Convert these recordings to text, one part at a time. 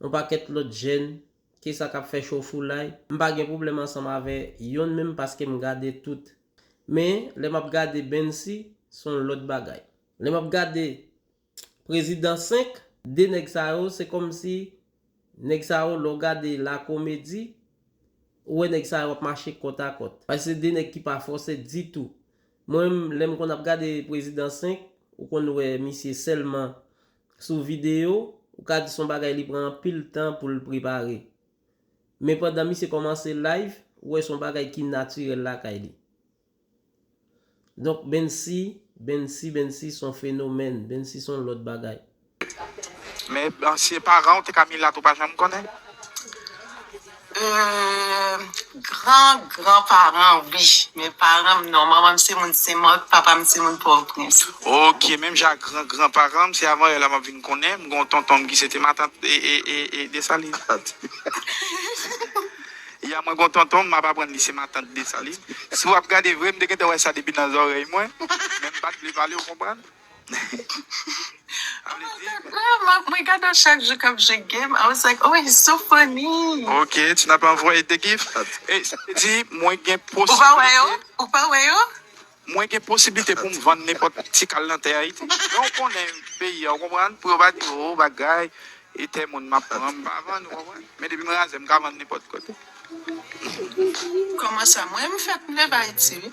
Yon pakèt lòt jèn ke sa kap fè cho foulay. M pa gen pwoblèm ansanm avè yonn menm paske m gade tout. Men, lè map gade Bensy, se yon lòt bagay. Lè map gade Prezidan 5, 2 nèg sa yo se kòmsi nèg sa yo lè w gade la komedi, ou wè nèg sa yo ap mache kòt a kòt. Paske se 2 nèg ki pa fòse ditou. Mwen menm, lè m konn ap gade Prezidan 5, ou konn wè misye sèlman Sou videyo, ou ka di son bagay li pran anpil tan pou l prepare. Men pandan misye kòmanse live, ou wè son bagay ki natirèl lakay li. Donk Bensy, Bensy, Bensy son fenomèn, Bensy son lòt bagay. Men Bensy e paran w, te ka milat ou pa janm konnen. Eeuumm gran gran paran wi men paranm non manmanm se moun senmòt papam se moun pòtoprens. Ok menm jan ak gran gran paranm se avan èla map vin konnen m gen yon tontonm ki sete matant ee desalin ya mwen gen yon tontonm map aprann li se matant desalin si wap gade vre m te gentan wè sa depi nan zòrèy mwen men m pat vle pale ou konprann. Map mwen gadel chak jou kap jwe game I was like oh he so funny. Ok ti nap anvoye de gif. Di mwen gen posiblite. Ou pa wè yo? Ou pa wè yo? Mwen gen posiblite poum vann nenpòt ti kal nan tè ayiti. Men ou konnen peyi a ou konprann pou yo pa di oh bagay e tè moun map pran m pa vann ou konprann men depi m razè m ka vann nenpòt kote. Kòman sa mwen m fèk m leve ayiti wi.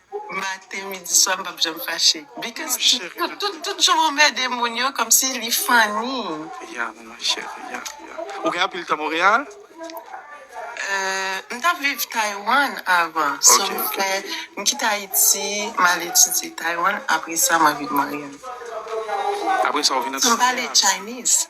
Maten midi swa m pap janm fache. Because tout jan w anmède moun yo kòmsi li funny. Ya ma chérie ya ya. Ou gen anpil tan Montréal? Uhh m tap viv Taiwan avan so m fè m kite Ayiti m al etidye Taiwan apresa mwen vin Montréal. Apresa ou vin nan Taiwan. M pale Chinese.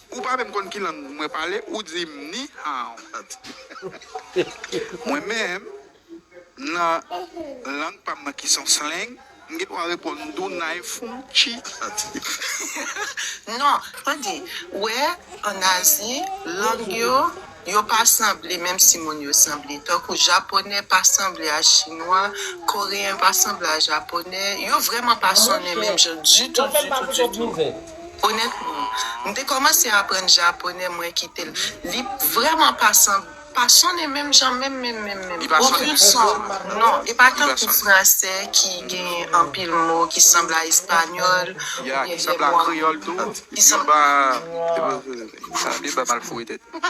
Ou pa menm konn ki lang mwen pale ou di m ni hao. Mwen menm nan lang pa m nan ki son slang, m gen dwa reponn m di w nai fung chi. Non, tande, wè an Azi lang yo Yo pa sanble menm si moun yo sanble. Tankou japonè pa sanble a chinwa, koreyen pa sanble a japonè. Yo vrèman pa sonnen menm jan ditou ditou ditou. Onètman, m te kòmanse aprann japonè mwen kite l. Li vrèman pa sanble, pa sonnen menm jan menm menm menm menm. Okenn son. Non, e pa tankou franse ki gen anpil mo ki sanble a espanyòl oubyen lèmò. Ki sanble a kreyòl tou. Ki sanble a. Sa deba mal foure tèt nou.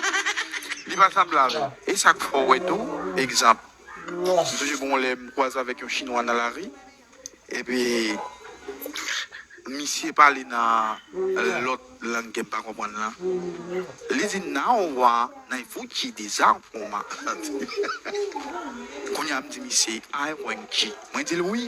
Li pa sa m lave. E sa k fè w wè tou, egzanp, m sonje gen yon lè m kwaze avèk yon chinwa nan lari, epi misye pale nan lòt lang ke m pa konprann lan, li di, Nao wa nai fuchi de za foma. Kounye a m di misye, Ai wenchi. Mwen di l wi.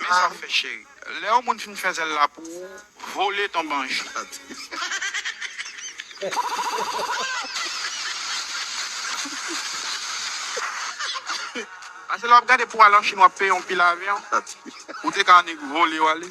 Men sa fè cheri. Lè yon moun fin fè zèl la pou ou, vole tonbe anchant. Pase lè wap gade pou al an Chine wap peye yon pil avyon. Ou te ka annik vole wale.